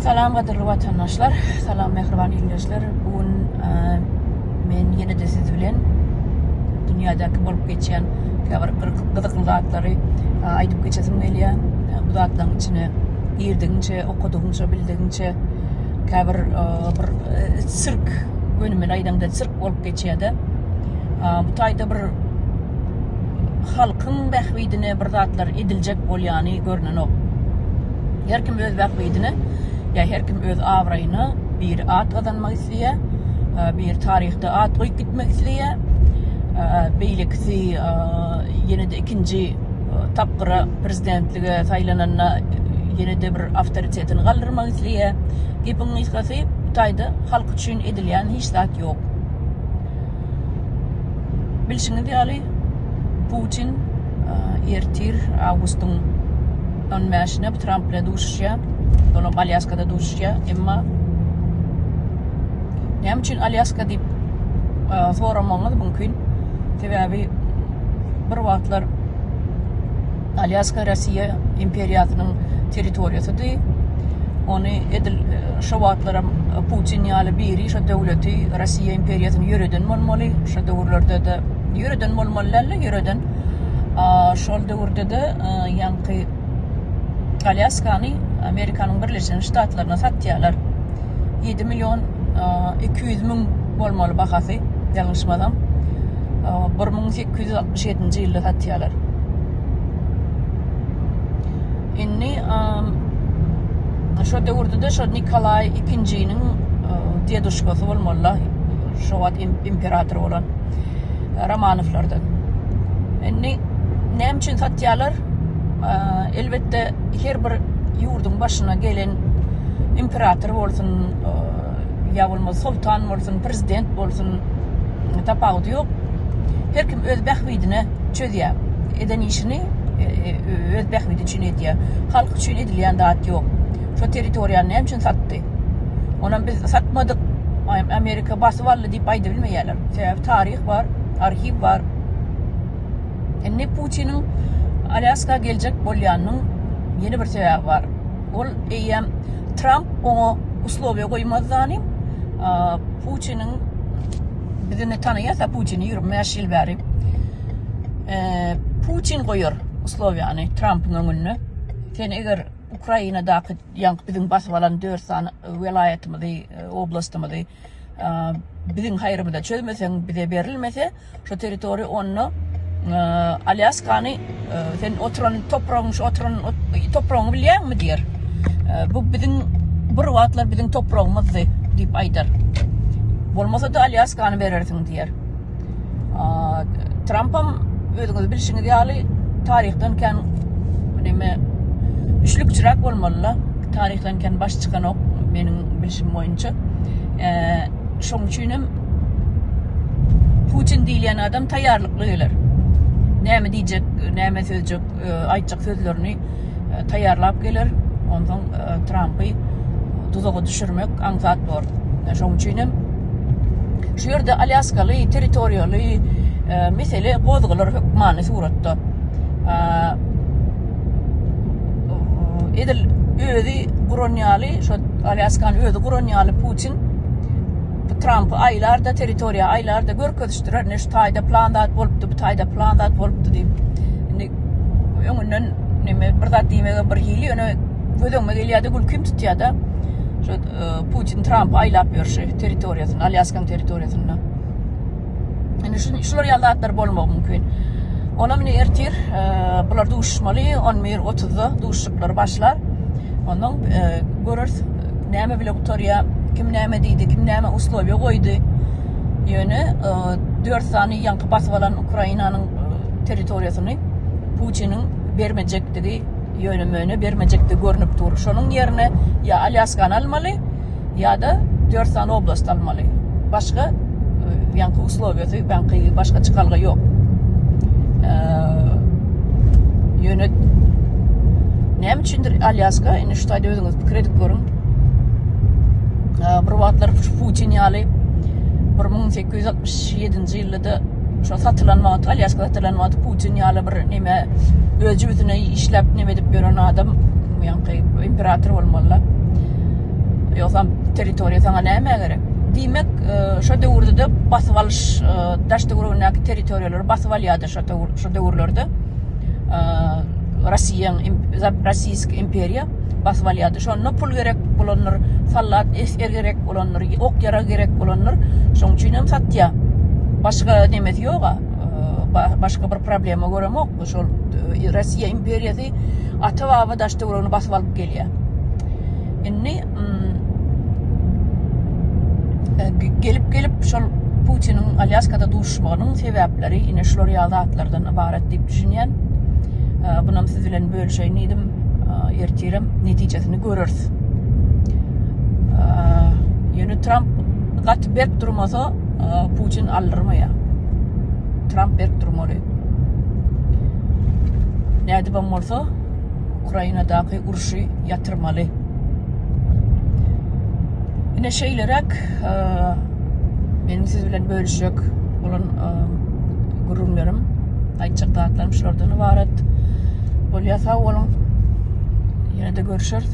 Salam gadyrly watandaşlar, salam mähriban ildeşler. Bu gün men ýene-de siz bilen dünýädäki bolup geçýän käbir gyzykly zatlary aýdyp geçesim gelýär. Bu zatlaryň içine girdigiňçe, okadygyňça, bildigiňçe käbir bir sirk, gönümel aýdaňda sirk bolup geçýär-de. Bu taýda bir halkyň bähbidine bir zatlar ediljek bolýany görnenok. Her kim öz bähbidine, ýa her kim öz abraýyna bir at gazanmak isleýär, e, bir taryhda at goýup gitmek isleýär. E, beýlekisi e, ýene-de ikinji tapgyra prezidentlige saýlananda ýene-de bir awtoritetini galdyrmak isleýär. Gepiň gysgasy, bu taýda halk üçin edilýän hiç zat ýok. Bilşiňiz ýaly, Putin ertir awgustyň 15-ine Tramp bilen duşuşýar. Olam Alýaskada duşuşýar. Emma näme üçin Alýaska diýip soramagyňyz mümkin. Sebäbi bir wagtlar Alýaska Russiýa imperiýasynyň territoriýasydy. Ony edil şo wagtlaram Putin ýaly biri şo döwleti Russiýa imperiýasyny ýöreden bolmaly. Şo döwürlerde-de ýöreden bolmaly dälde ýöreden. Şol döwürde-de ýaňky Alýaskany Amerikanyň Birleşen Ştatlaryna satýarlar. Ýedi million iki ýüz müň bolmaly bahasy ýalňyşmasam. Bir müň sekiz ýüz altmyş ýedinji ýylda satýarlar. Indi şo döwürde-de şo Nikolaý ikinjiniň deduşkasy bolmaly-la, şo wagt imperator bolan Romanowlardan. Indi näme üçin satýarlar? Elbetde, her bir ýurduň başyna gelen imperator bolsun, ýa bolmasa soltan bolsun, prezident bolsun, tapawudy ýok. Her kim öz bähbidine çözýär. Eden işini e, e, öz bähbidi üçin edýär. Halk üçin edilýän zat ýok. Şo territoriýany näme üçin satdy? Onam biz satmadyk. Amerika basyp aldy diýip aýdybilmeýärler. Sebäbi taryh bar, arhiw bar. Indi Putiniň Alýaska geljek bolýanynyň ýene bir sebäbi bar. ol eýýäm Tramp oňa uslowiýa goýmazdanym, Putiniň bizini tanaýasa Putini 25 ýyl bäri Putin goýar uslowiýany Trampyň öňünde. Sen eger Ukrainadaky ýaňky biziň basyp alan 4 sany welaýatymyzy, oblastymyzy biziň haýrymyza çözmeseň, bize berilmese şu territoriýa onda Alýaskany sen oturan topragyň şu oturan topragyňy bilýäňmi diýer. Bu biziň bir wagtlar biziň topragymyzdy diýip aýdar. Bolmasa-da Alýaskany berersiň diýer. Trampam özüňiz bilşiňiz ýaly taryhdan kän neme üçlükçiräk bolmaly-la. Taryhdan kän baş çykanok meniň bilşim boýunça. Şoň üçin hem Putin diýilýän adam taýýarlykly geler. Näme diýjek, näme sözjek, aýtjak sözlerini taýýarlap geler. Ondan e, Trampy duzaga düşürmek aňsat bor. E, şoň üçin hem şu ýerde Alýaskaly territoriýaly e, mesele gozgalar hökmany suratda. E, edil özi guran ýaly, şu Alýaskany özi guran ýaly Putin Trampy aýlarda territoriýa aýlarda görkezişdirer. Ne şu taýda plan zat bolupdy, bu taýda plan zat bolupdy diýip. öňünden neme bir zat diýmege bir hili ýöne göz öňüme gelýärdi gülkim tutýarda şu e, Putin Tramp aýlap ýörşi territoriýasyny Alýaskaň territoriýasyny indi şu şular ýaly zatlar bolmagy mümkin Ona meni ertir e, bular duşmaly 11.30-da duşuklary başlar ondan e, görürs näme bile gutarýa kim näme diýdi kim näme uslowiýa goýdy ýöne 4 sany ýaňky basyp alan Ukrainanyň territoriýasyny Putiniň bermejekdigi, ýöne-möne bermejekdigi görnüp dur. Şonuň ýerine ýa Alýaskany almaly, ýa-da dört sany oblast almaly. Başga e, ýaňky uslowiýasy, ýaňky başga çykalga ýok. E, ýöne näme üçindir Alýaska, indi şu taýda özüňiz pikir edip görüň. E, bir wagtlar Putin ýaly 1867-nji ýylda Ýa-da şo satylan wagty, Alýaska satylan wagty Putin ýaly bir neme öz jübüsine işläp neme edip ýören adam ýaňky imperator bolmaly-la. Ýogsam territoriýa saňa nämä gerek? Diýmek, e, şo döwürde-de basyp alyş, e, daş töweregindäki territoriýalary basyp alýardy şo döwür, şo döwürlerde. E, Rossiýa, rossiýsk imperiýa. basyp alýardy. Şonda pul gerek bolandyr, sallat esger gerek bolandyr, ok-ýarag gerek bolandyr. Şoň üçin hem satýar. Başga nemesi ýog-a. Başga bir problema göremok. Şol e, Russiýa imperiýasy ata-baba daş-töweregini basyp alyp gelýär. Indi mm, e, gelip gelip şol Putiniň Alýaskada duşmagynyň sebäpleri ine şular ýaly zatlardan ybarat diýip düşünýän. Bunam siz bilen bölüşeýin diýdim. ertirem netijesini görürs. Ýöne Trump gaty berk durmasa, Putin aldyrmaýar. Trump berk durmaly. Nädip hem bolsa Ukrainadaky urşy ýatyrmaly. Ine şeýleräk Meniň siz bilen bölüşjek bolan gürrüňlerim, aýtjak zatlarym şulardan ybarat. Bolýa sag boluň. Ýene-de görüşeris.